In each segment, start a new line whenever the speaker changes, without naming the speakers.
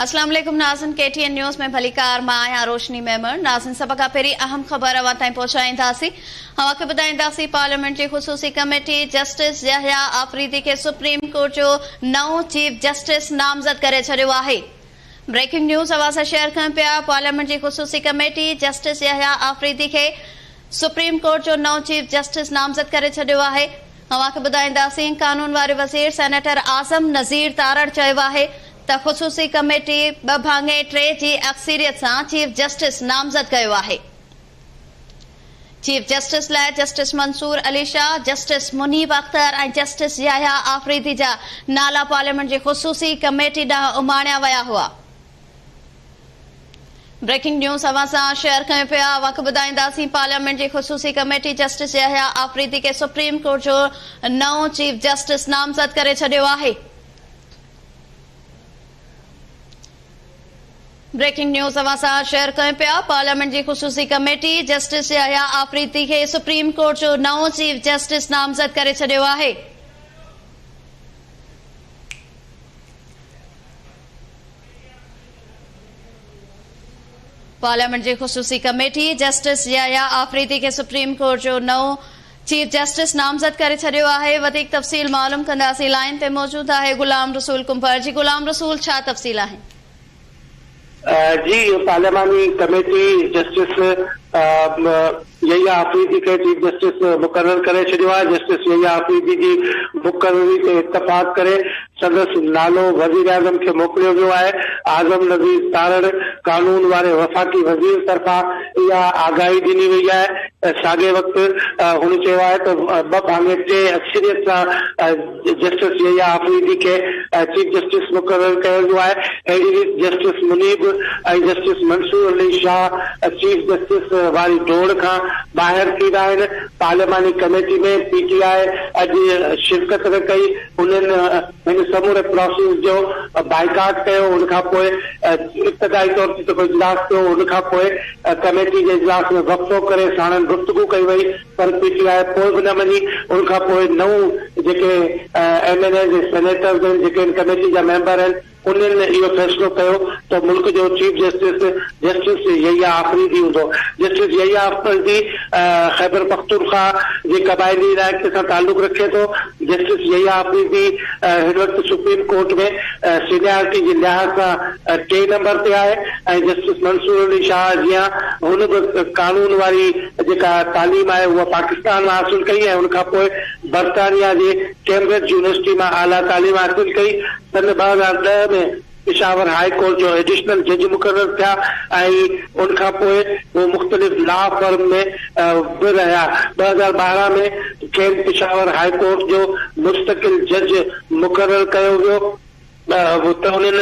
اسلام عليڪم ناظرين ڪي ٽي اين نيوز ۾ ڀليڪار مان آهيان روشني ميمڻ ناظرين سڀ کان پهرين اهم خبر اوهان تائين پهچائينداسين اوهان کي ٻڌائينداسين پارليامينٽ جي خصوصي ڪميٽي جسٽس يحيٰ آفريدي کي سپريم ڪورٽ جو نئون چيف جسٽس نامزد ڪري ڇڏيو آهي بريڪنگ نيوز اوهان سان شيئر ڪيون پيا پارليامينٽ جي خصوصي ڪميٽي جسٽس يحيٰ آفريدي کي سپريم ڪورٽ جو نئون چيف جسٽس نامزد ڪري ڇڏيو آهي اوهان کي ٻڌائينداسين قانون واري وزير سينيٽر اعظم نذير تارڙ چيو آهي ته خصوصي ڪميٽي ٻه ڀاڱي ٽي جي اڪثيريت سان چيف جسٽس نامزد ڪيو آهي. چيف جسٽس لاء justice Mansoor Ali Shah, justice Munib Akhtar ۽ justice Yahya Afridi جا نالا پارليامينٽ جي خصوصي ڪميٽي ڏانهن اماڻيا ويا هئا. بريڪنگ نيوز اوهان سان شيئر ڪيون پيا وک ٻڌائينداسين پارليامينٽ جي خصوصي ڪميٽي جسٽس يحيٰ آفريدي کي سپريم ڪورٽ جو نئون چيف جسٽس نامزد ڪري ڇڏيو آهي. بريڪنگ نيوز اوهان سان شيئر ڪيون پيا پارليامينٽ جي خصوصي ڪميٽي جسٽس يحيٰ آفريدي کي سپريم ڪورٽ جو نئون چيف جسٽس نامزد ڪري ڇڏيو آهي پارليامينٽ جي خصوصي ڪميٽي جسٽس يحيٰ آفريدي کي سپريم ڪورٽ جو نئون چيف جسٽس نامزد ڪري ڇڏيو آهي وڌيڪ تفصيل معلوم ڪنداسين لائين تي موجود آهي غلام رسول ڪنڀر جي غلام رسول ڇا تفصيل آهن.
جي پارلياماني ڪميٽي جسٽس يحيٰ آفريدي کي چيف جسٽس مقرر ڪري ڇڏيو آهي جسٽس يحيٰ آفريدي جي مقرري تي اتفاق ڪري سندس نالو وزيراعظم کي موڪليو ويو آهي، اعظم نذير تارڙ قانون واري وفاقي وزير طرفان اها آگاهي ڏني وئي آهي، ساڳئي وقت هن چيو آهي ته ٻه ڀاڱي ٽي اڪثريت سان جسٽس يحيٰ آفريدي کي چيف جسٽس مقرر ڪيو ويو آهي، اهڙي ريت justice Munib ۽ justice Mansoor Ali Shah chief justice واري ڊوڙ کان ٻاهر ٿي ويا آهن، پارلياماني ڪميٽي ۾ پي ٽي آء اڄ شرڪت نه ڪئي. انهن هن سموري پراسيس جو بائيڪاٽ ڪيو ان کان پوء ابتدائي طور تي جيڪو اجلاس ٿيو ان کان پوء ڪميٽي جي اجلاس ۾ وقفو ڪري ساڻن گفتگو ڪئي وئي پر پي ٽي آء پوء به نه مڃي ان کان پوء نو جيڪي ايم اين ايز ۽ سينيٽرز آهن جيڪي هن ڪميٽي جا ميمبر آهن انهن اهو فيصلو ڪيو ته ملڪ جو chief justice justice Yahya Afridi هوندو. جسٽس يحيٰ آفريدي خيبرپختونخواهه جي قبائلي علائقي سان تعلق رکي ٿو. جسٽس يحيٰ آفريدي هن وقت سپريم ڪورٽ ۾ سينيارٽي جي لحاظ سان ٽئين نمبر تي آهي ۽ جسٽس منصور علي شاهه جيان هن به قانون واري جيڪا تعليم آهي اها پاڪستان مان حاصل ڪئي ۽ ان کانپوء برطانيا جي ڪيمبرج يونيورسٽي مان اعليٰ تعليم حاصل ڪئي. سن ٻه هزار ڏهه ۾ پشاور هاء ڪورٽ جو ايڊيشنل جج مقرر ٿيا ۽ ان کان پوء هو مختلف لا فرم ۾ به رهيا. ٻه هزار ٻارهن ۾ کين پشاور هاء ڪورٽ جو مستقل جج مقرر ڪيو ويو. هو ته انهن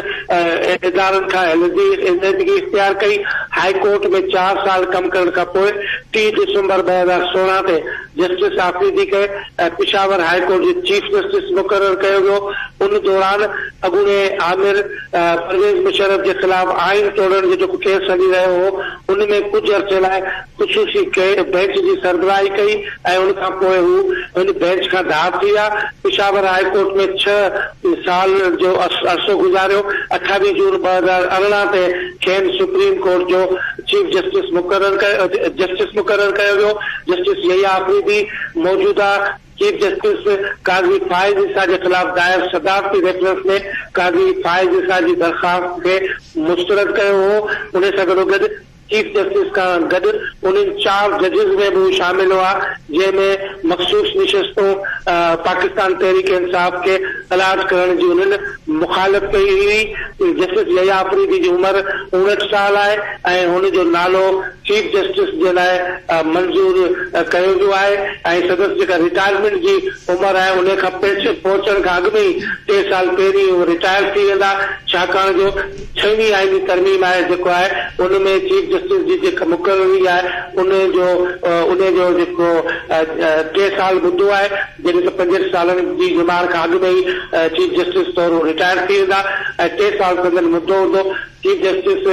ادارن کان علحدي علحدگي اختيار ڪئي. هاء ڪورٽ ۾ چار سال ڪم ڪرڻ کان پوء ٽي ڊسمبر ٻه هزار سورهن تي جسٽس آفريدي کي پشاور هاء ڪورٽ جو چيف جسٽس مقرر ڪيو ويو. ان دوران اڳوڻي آمر پرويز مشرف جي خلاف آئين ٽوڙڻ جو جيڪو ڪيس هلي رهيو هو، ان ۾ ڪجهه عرصي لاء خصوصي بئنچ جي سربراهي ڪئي ۽ ان کان پوء هو ان بئنچ کان ڌار ٿي ويا. پشاور هاء ڪورٽ ۾ ڇهه سال جو عرصو گذاريو. اٺاويهه جون ٻه هزار ارڙهن تي کين سپريم ڪورٽ جو چيف جسٽس مقرر ڪيو جسٽس مقرر ڪيو ويو. جسٽس يحيٰ آفريدي موجوده چيف جسٽس قاضي فائز عيسيٰ جي خلاف دائر صدارتي ريفرنس ۾ قاضي فائز عيسيٰ جي درخواست کي مسترد ڪيو هو، انهي سان گڏوگڏ چيف جسٽس کان گڏ انهن چار ججز ۾ به هو شامل هئا، جنهن ۾ مخصوص نشستون پاڪستان تحريڪ انصاف کي الاٽ ڪرڻ جي انهن مخالف ڪئي هئي، جسٽس يحيٰ آفريدي جي عمر اوڻهٺ سال آهي ۽ هن جو نالو چيف جسٽس جي لاء منظور ڪيو ويو آهي ۽ سندس جيڪا رٽائرمينٽ جي عمر آهي انهي کان پهچڻ کان اڳ ۾ ئي ٽي سال پهرين هو رٽائر ٿي ويندا ڇاڪاڻ جو ڇهوين آئيني ترميم آهي جيڪو آهي ان ۾ چيف جسٽس جي جيڪا مقرري آهي انهي جو انهي جو جيڪو ٽي سال مدو آهي جڏهن ته پنجهٺ سالن جي ڄمار کان اڳ ۾ ئي چيف جسٽس طور هو رٽائر ٿي ويندا ۽ ٽي سال سندن مدو هوندو چيف جسٽس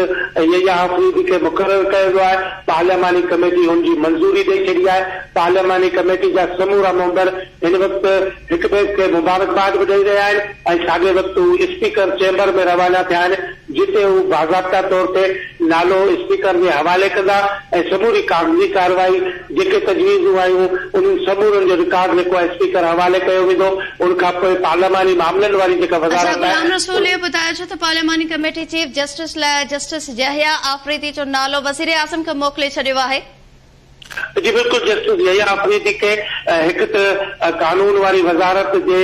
يحيٰ آفريدي کي مقرر ڪيو ويو آهي، پارلياماني ڪميٽي هن جي منظوري ڏئي ڇڏي آهي، پارلياماني ڪميٽي جا سمورا ميمبر هن وقت هڪٻئي کي مبارڪباد به ڏئي رهيا آهن ۽ ساڳئي وقت هو اسپيڪر چيمبر ۾ روانا ٿيا آهن جتي هو باضابطا طور تي نالو اسپيڪر جي حوالي ڪندا ۽ سموري ڪاغذي ڪارروائي جيڪي تجويزون آيون انهن سمورن جو رڪارڊ جيڪو آهي اسپيڪر حوالي ڪيو ويندو ان کانپوء پارلياماني معاملن واري جيڪا وزارت
آهي. ته پارلياماني ڪميٽي چيف جسٽس لاء جسٽس يحيٰ آفريدي جو نالو وزيراعظم کي موڪلي ڇڏيو آهي. جي
بلڪل جسٽس يحيٰ آفريدي کي هڪ ته قانون واري وزارت جي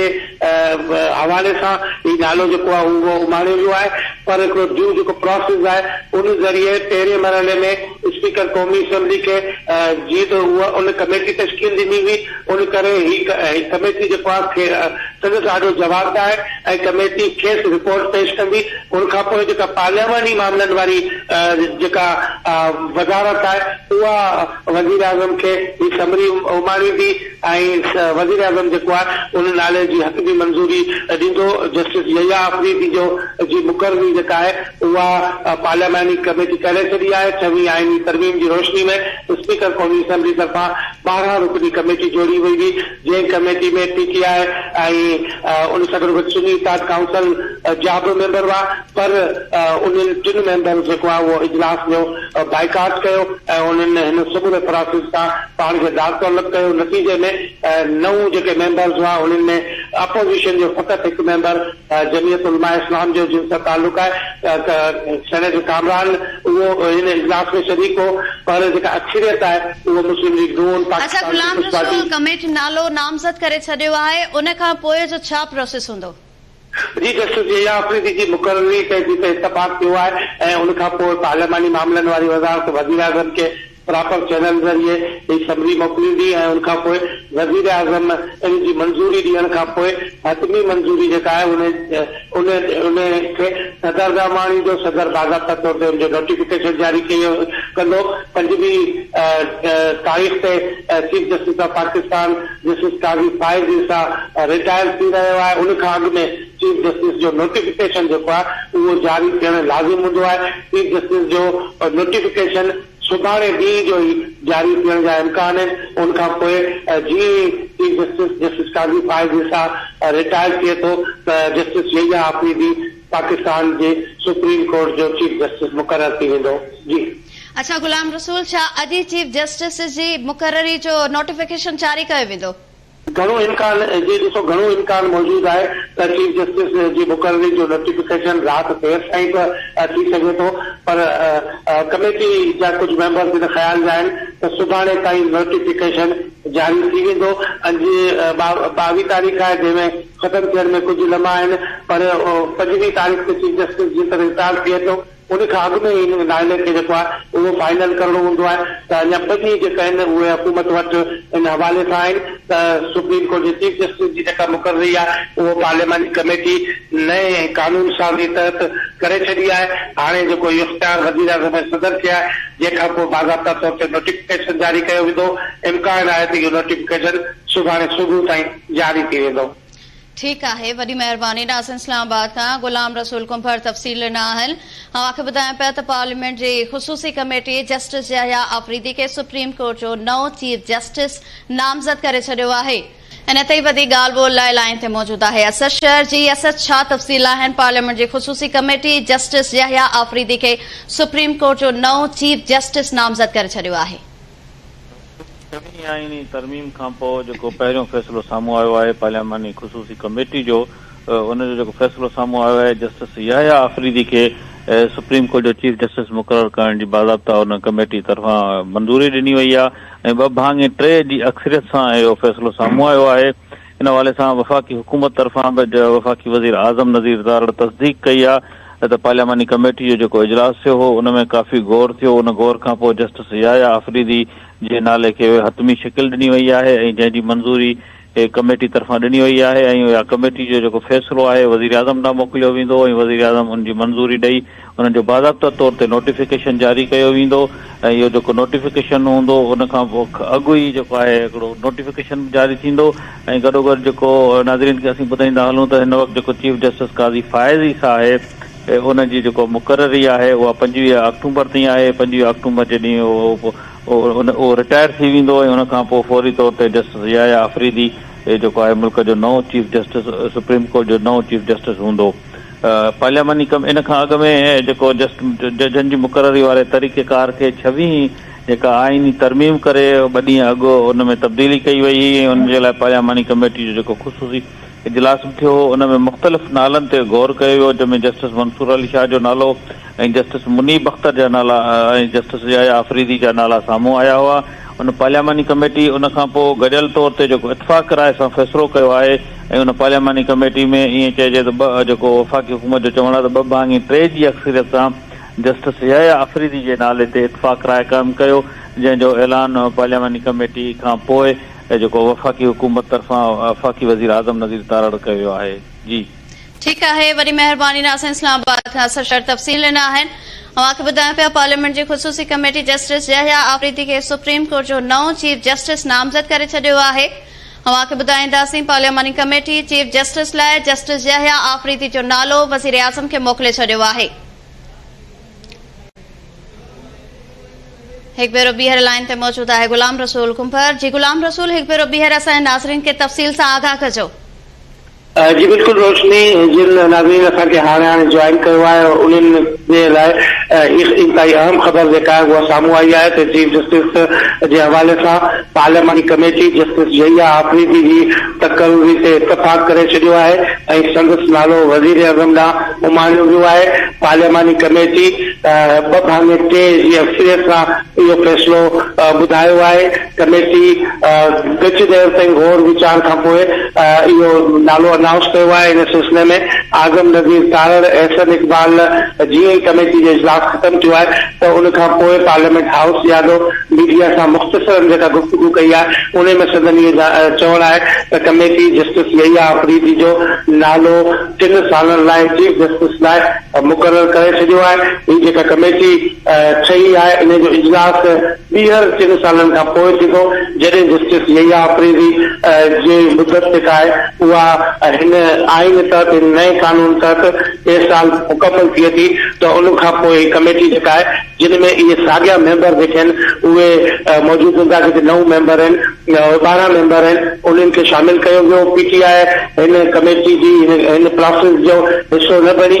حوالي سان هي نالو جيڪو آهي اهو اماڻيو ويو آهي پر هڪڙو ڊيو جيڪو پراسيس آهي ان ذريعي پهرين مرحلي ۾ اسپيڪر قومي اسيمبلي کي جيئن ته هو ان ڪميٽي تشڪيل ڏني هئي ان ڪري هي ڪميٽي جيڪو آهي سندس آڏو جوابدار ۽ ڪميٽي کيس رپورٽ پيش ڪندي ان کان پوء جيڪا پارلياماني معاملن واري جيڪا وزارت آهي اها وزيراعظم کي هي سمري اماڻيندي ۽ وزيراعظم جيڪو آهي ان نالي جي حق جي منظوري ڏيندو جسٽس يحيٰ آفريدي جو جي مقرري جيڪا آهي اها پارلياماني ڪميٽي ڪري ڇڏي آهي ڇوين آئيني ترميم جي روشني ۾ اسپيڪر قومي اسيمبلي طرفان ٻارهن رڪني ڪميٽي جوڙي وئي هئي جنهن ڪميٽي ۾ پي ٽي آء ۽ ان سان گڏوگڏ سني اتحاد ڪائونسل جا به ميمبر هئا پر انهن ٽن ميمبرز جيڪو آهي اهو اجلاس جو بائيڪاٽ ڪيو ۽ انهن هن سموري پراسيس کان پاڻ کي دار تعلق ڪيو نتيجي ۾ نو جيڪي ميمبرز هئا انهن ۾ اپوزيشن جو فقط هڪ ميمبر جمعيت علماء اسلام جو جن سان تعلق آهي ته سينيٽر ڪامران اهو هن اجلاس ۾ شريڪ هو پر جيڪا اڪثريت آهي اهو مسلم ليگ نون، اچا پاڪستان غلام پيپلز رسول پارٽي.
ڪميٽ نالو نامزد ڪري ڇڏيو آهي ان کان پوء جو ڇا پروسيس هوندو؟ جي جسٽس
يحيٰ آفريدي جي مقرري تي جي ته اتفاق ٿيو آهي ۽ ان کان پوء پارلياماني معاملن واري وزارت وزيراعظم کي پراپر چينل ذريعي هي سمري موڪليندي ۽ ان کان پوء وزيراعظم ان جي منظوري ڏيڻ کان پوء حتمي منظوري جيڪا آهي ان ان ان کي صدر ڏانهن آڻيندو، صدر باضابطه طور تي ان جو نوٽيفڪيشن جاري ڪيو ڪندو، پنجويهه تاريخ تي chief justice of Pakistan justice Qazi Faez Isa retire ٿي رهيو آهي، ان کان اڳ ۾ چيف جسٽس جو نوٽيفڪيشن جيڪو آهي اهو جاري ٿيڻ لازم هوندو آهي، چيف جسٽس جو نوٽيفڪيشن سڀاڻي ڏينهن جو ئي جاري ٿيڻ جا امڪان آهن، ان کان پوء جيئن ئي chief justice justice Qazi Faez Isa retire ٿئي ٿو ته جسٽس يحيٰ آفريدي پاڪستان جي سپريم ڪورٽ جو چيف جسٽس مقرر ٿي ويندو. جي. اڇا غلام
رسول ڇا اڄ ئي چيف جسٽس جي مقرري جو نوٽيفڪيشن جاري ڪيو ويندو؟ گهڻو امڪان
جي ڏسو گهڻو امڪان موجود آهي ته چيف جسٽس جي مقرري جو نوٽيفڪيشن رات دير تائين به ٿي سگهي ٿو پر ڪميٽي جا ڪجهه ميمبرز ان خيال جا آهن ته سڀاڻي تائين نوٽيفڪيشن جاري ٿي ويندو اڄ ٻاويهه تاريخ آهي جنهن ۾ ختم ٿيڻ ۾ ڪجهه لمحا آهن پر پنجويهه تاريخ تي چيف جسٽس جيڪڏهن رٽائرڊ ٿئي ٿو ان کان اڳ ۾ ئي ان معاملي کي جيڪو آهي اهو فائنل ڪرڻو هوندو آهي ته اڃا ٻه ڏينهن جيڪا آهن اهي حڪومت وٽ ان حوالي سان آهن ته سپريم ڪورٽ جي چيف جسٽس جي جيڪا مقرري آهي اهو پارلياماني ڪميٽي نئين قانون سازي تحت ڪري ڇڏي آهي هاڻي جيڪو اهو اختيار وزيراعظم ۽ صدر کي آهي جنهن کان پوء باضابطا طور تي نوٽيفڪيشن جاري ڪيو ويندو امڪان آهي ته اهو نوٽيفڪيشن سڀاڻي صبح تائين جاري ٿي ويندو. ٺيڪ آهي
وڏي مهرباني ناظم اسلام آباد کان غلام رسول ڪنڀر تفصيل ڏنا آهن اوهان کي ٻڌايان پيا ته پارليامينٽ جي خصوصي ڪميٽي جسٽس يحيٰ آفريدي کي سپريم ڪورٽ جو نئون چيف جسٽس نامزد ڪري ڇڏيو آهي ان تي ئي وڌيڪ ڳالهه ٻولهه لاء لائين تي موجود آهي اسد شر جي اسد ڇا تفصيل آهن پارليامينٽ جي خصوصي ڪميٽي جسٽس يحيٰ آفريدي کي سپريم ڪورٽ جو نئون چيف جسٽس نامزد ڪري ڇڏيو آهي.
ڇهين آئيني ترميم کانپوء جيڪو پهريون فيصلو سامهون آيو آهي پارلياماني خصوصي ڪميٽي جو ان جو جيڪو فيصلو سامهون آيو آهي جسٽس يحيٰ آفريدي کي سپريم ڪورٽ جو چيف جسٽس مقرر ڪرڻ جي باضابطا ان ڪميٽي طرفان منظوري ڏني وئي آهي ۽ ٻه ڀاڱي ٽي جي اڪثريت سان اهو فيصلو سامهون آيو آهي ان حوالي سان وفاقي حڪومت طرفان به وفاقي وزير اعظم نذير تارڙ تصديق ڪئي آ ته پارلياماني ڪميٽي جو جيڪو اجلاس ٿيو هو ان ۾ ڪافي غور ٿيو ان غور کانپوء جسٽس يحيٰ آفريدي جي نالي کي حتمي شڪل ڏني وئي آهي ۽ جنهن جي منظوري ڪميٽي طرفان ڏني وئي آهي ۽ اها ڪميٽي جو جيڪو فيصلو آهي وزيراعظم ڏانهن موڪليو ويندو ۽ وزيراعظم ان جي منظوري ڏئي انهن جو باضابطه طور تي نوٽيفڪيشن جاري ڪيو ويندو ۽ اهو جيڪو نوٽيفڪيشن هوندو ان کان اڳ ئي جيڪو آهي هڪڙو نوٽيفڪيشن به جاري ٿيندو ۽ گڏوگڏ جيڪو ناظرين کي اسين ٻڌائيندا هلون ته هن وقت جيڪو چيف جسٽس قاضي فائز عيسيٰ آهي ان جي جيڪو مقرري آهي اها پنجويهه آڪٽومبر تائين آهي پنجويهه آڪٽومبر جي ڏينهن اهو رٽائر ٿي ويندو ۽ ان کان پوء فوري طور تي جسٽس ضياء آفريدي جيڪو آهي ملڪ جو نئون چيف جسٽس سپريم ڪورٽ جو نئون چيف جسٽس هوندو. پارلياماني ڪم ان کان اڳ ۾ جيڪو جسٽ ججن جي مقرري واري طريقه ڪار کي ڇويهين جيڪا آئيني ترميم ڪري ٻه ڏينهن اڳ ان ۾ تبديلي ڪئي وئي هئي ۽ ان جي لاء پارلياماني ڪميٽي جو جيڪو خصوصي اجلاس به ٿيو هو ان ۾ مختلف نالن تي غور ڪيو ويو جنهن ۾ جسٽس منصور علي شاهه جو نالو ۽ جسٽس منيب اختر جا نالا ۽ جسٽس يحيٰ آفريدي جا نالا سامهون آيا هئا. ان پارلياماني ڪميٽي ان کان پوء گڏيل طور تي جيڪو اتفاق راء سان فيصلو ڪيو آهي ۽ ان پارلياماني ڪميٽي ۾ ائين چئجي ته ٻه جيڪو وفاقي حڪومت جو چوڻ آهي ته ٻه ڀاڱي ٽي جي اڪثريت سان جسٽس يحيٰ آفريدي جي نالي تي اتفاق راء قائم ڪيو جنهن جو اعلان پارلياماني ڪميٽي کان پوء جيڪو وفاقي حڪومت طرفان وفاقي وزير اعظم نظير تارڙ ڪيو ويو آهي جي ٺيڪ آهي
وڏي مهرباني ناصر اسلام آباد کان سرشار تفصيل ڏنا آهن اوهان کي ٻڌايان پيا پارليامينٽ جي خصوصي ڪميٽي جسٽس يحيٰ آفريدي کي سپريم ڪورٽ جو نئون چيف جسٽس نامزد ڪري ڇڏيو آهي اوهان کي ٻڌائينداسين پارلياماني ڪميٽي چيف جسٽس لاء جسٽس يحيٰ آفريدي جو نالو وزيراعظم کي موڪلي ڇڏيو آهي هڪ ڀيرو ٻيهر لائن تي موجود آهي غلام رسول ڪنڀر جي غلام رسول هڪ ڀيرو ٻيهر اسان جي ناظرين کي تفصيل سان آگاهه ڪجو
جي بلڪل روشني جن ناظرين اسان کي هاڻي هاڻي جوائن ڪيو آهي انهن جي لاء هڪ انتهائي اهم خبر جيڪا آهي اها سامهون آئي آهي ته چيف جسٽس جي حوالي سان پارلياماني ڪميٽي جسٽس يحيٰ آفريدي جي تقرري تي اتفاق ڪري ڇڏيو آهي ۽ سندس نالو وزيراعظم ڏانهن اماڻيو ويو آهي پارلياماني ڪميٽي ٻه ڀاڱي ٽي جي اڪثريت سان اهو فيصلو ٻڌايو آهي ڪميٽي ڳچ دير تائين غور ويچار کانپوء اهو نالو انائونس ڪيو آهي، ان سلسلي ۾ اعظم نذير تارڙ، احسن اقبال جيئن ئي ڪميٽي جو اجلاس ختم ٿيو آهي ته ان کانپوء پارليامينٽ هائوس ڏياڏو ميڊيا سان مختصرا جيڪا گفتگو ڪئي آهي انهي ۾ سندن اهو چوڻ آهي ته ڪميٽي جسٽس يحيٰ آفريدي جو نالو ٽن سالن لاء چيف جسٽس لاء مقرر ڪري ڇڏيو آهي، هي جيڪا ڪميٽي ٺهي آهي انهي جو اجلاس ٻيهر ٽن سالن کان پوء ٿيندو، جڏهن جسٽس يحيٰ آفريدي جي مدت جيڪا آهي اها هن آئين تحت، هن نئين قانون تحت ٽي سال مڪمل ٿئي ٿي ته ان کان پوء هي ڪميٽي جيڪا آهي جن ۾ اهي ساڳيا ميمبر جيڪي آهن اهي موجود هوندا جيڪي نو ميمبر آهن ٻارهن ميمبر آهن انهن کي شامل ڪيو ويو، پي ٽي آء هن ڪميٽي جي هن پراسيس جو حصو نه بڻي.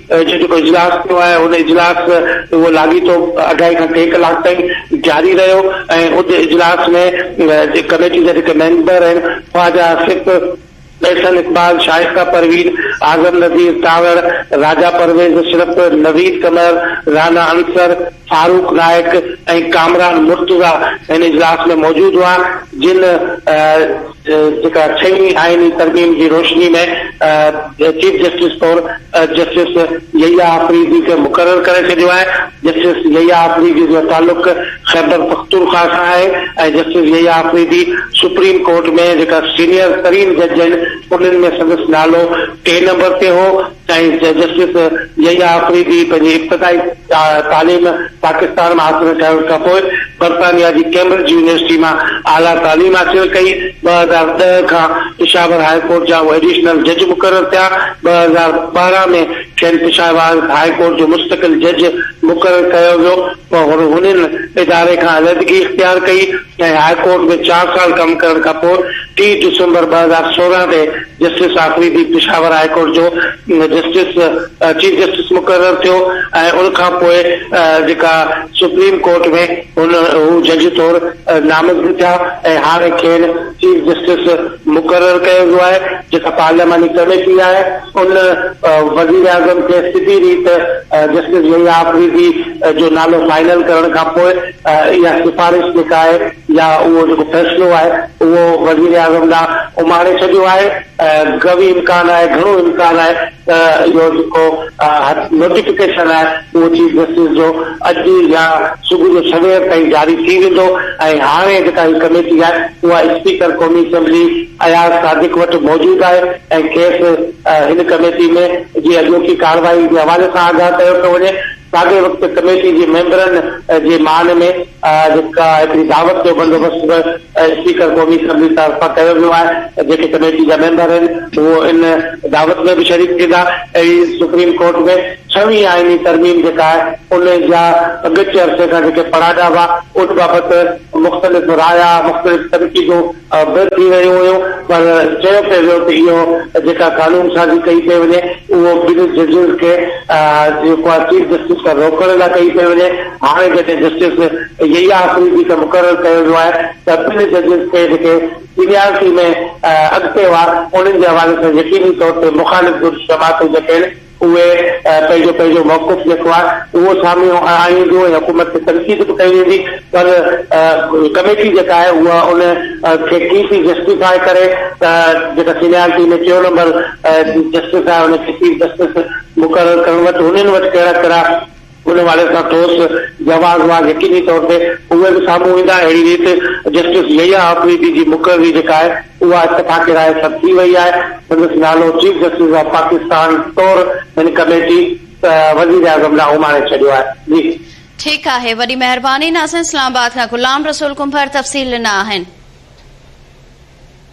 اڄ جيڪو اجلاس ٿيو آهي ان اجلاس اهو لاڳيتو اڍائي کان ٽي ڪلاڪ تائين جاري رهيو ۽ ان اجلاس ۾ جي ڪميٽي جا جيڪي ميمبر آهن خواجه آصف، احسن اقبال، شائسته پروين، اعظم نذير تانوڙ، راجا پرويز اشرف، نويد قمر، رانا عنصر، فاروق نائيڪ ۽ ڪامران مرتضيٰ ان اجلاس ۾ موجود هئا، جن جيڪا ڇهين آئيني ترميم جي روشني ۾ چيف جسٽس طور جسٽس يحيٰ آفريدي کي مقرر ڪري ڇڏيو آهي، جسٽس يحيٰ آفريدي جو تعلق خيبر پختونخواهه سان آهي ۽ justice Yahya Afridi supreme court ۾ جيڪا سينيئر ترين جج آهن انهن ۾ سندس نالو ٽئين نمبر تي هو، سائنس جي جسٽس يحيٰ آفريدي پنهنجي ابتدائي تعليم پاڪستان مان حاصل ڪرڻ کان پوء برطانيا جي ڪيمبرج يونيورسٽي مان اعليٰ تعليم حاصل ڪئي. ٻه هزار ڏهه کان پشاور هاء ڪورٽ جا هو ايڊيشنل جج مقرر ٿيا. ٻه هزار ٻارهن ۾ کين پشاور هاء ڪورٽ جو مستقل جج مقرر ڪيو ويو پر هن هن اداري کان علحدگي اختيار ڪئي ۽ هاء ڪورٽ ۾ چار سال ڪم ڪرڻ کان پوء ٽي ڊسمبر ٻه هزار سورهن تي justice Afridi Peshawar high court جو جسٽس چيف جسٽس مقرر ٿيو ۽ ان کان پوء جيڪا سپريم ڪورٽ ۾ هن هو جج طور نامزد ٿيا ۽ هاڻي کين چيف جسٽس مقرر ڪيو ويو آهي جيڪا پارلياماني ڪميٽي آهي ان وزيراعظم کي سڌي ريت جسٽس يحيٰ آفريدي جو نالو فائنل ڪرڻ کان پوء اها سفارش جيڪا آهي يا اهو جيڪو فيصلو آهي اهو وزيراعظم ڏانهن اماڻي ڇڏيو آهي ۽ قوي امڪان آهي گهڻو امڪان آهي ته اهو جيڪو نوٽيفڪيشن آهي اهو چيف جسٽس جو اڄ يا صبح جو سوير تائين جاري ٿي ويندو ۽ هاڻي جيڪا هي ڪميٽي آهي اها اسپيڪر قومي اسيمبلي اياز صادق وٽ موجود آهي ۽ کيس هن ڪميٽي ۾ جي اڄوڪي ڪارروائي جي حوالي سان آگاهه ڪيو ٿو وڃي. ساڳئي وقت ڪميٽي جي ميمبرن جي مان ۾ هڪ هڪڙي دعوت جو بندوبست به اسپيڪر قومي اسيمبلي طرفان ڪيو ويو آهي، جيڪي ڪميٽي جا ميمبر آهن اهو ان دعوت ۾ به شريڪ ٿيندا ۽ سپريم ڪورٽ ۾ ڇهوين آئيني ترميم جيڪا آهي ان جا ڳچ عرصي کان جيڪي پڙاڏا هئا ان بابت مختلف رايا، مختلف تنقيدون اڀر ٿي رهيون هيون پر چيو پئي ويو ته اهو جيڪا قانون سازي ڪئي پئي وڃي اهو ٻن ججز کي جيڪو آهي چيف جسٽس کان روڪڻ لاء ڪئي پئي وڃي هاڻي جڏهن جسٽس يحيٰ آفريدي کي مقرر ڪيو ويو آهي ته ٻن ججز کي جيڪي سينيارٽي ۾ اڳتي هئا انهن جي حوالي سان يقيني طور تي مخالف گڏ جماعتون جيڪي آهن اهي پنهنجو پنهنجو موقف جيڪو آهي اهو سامهي آڻي وينديون ۽ حڪومت تي تنقيد به ڪئي ويندي پر ڪميٽي جيڪا آهي اها ان کي ڪي ٿي جسٽيفاء ڪري ته جيڪا سينيارٽي ۾ ٽيون نمبر جسٽس آهي ان کي چيف جسٽس مقرر ڪرڻ وٽ هنن وٽ ڪهڙا ڪهڙا ان واري سان ٺوس جواز وار يقيني طور تي اهي به سامهون ايندا اهڙي ريت جسٽس يحيٰ آفريدي جي مقرري جيڪا آهي اها اتفاق راء سر ٿي وئي آهي سندس نالو چيف جسٽس آف پاڪستان طور هن ڪميٽي وزير اعظم ڏانهن اماڻي ڇڏيو آهي جي.
ٺيڪ آهي وڏي
مهرباني
ناظرين اسلام آباد کان غلام رسول ڪنڀر تفصيل ڏنا آهن.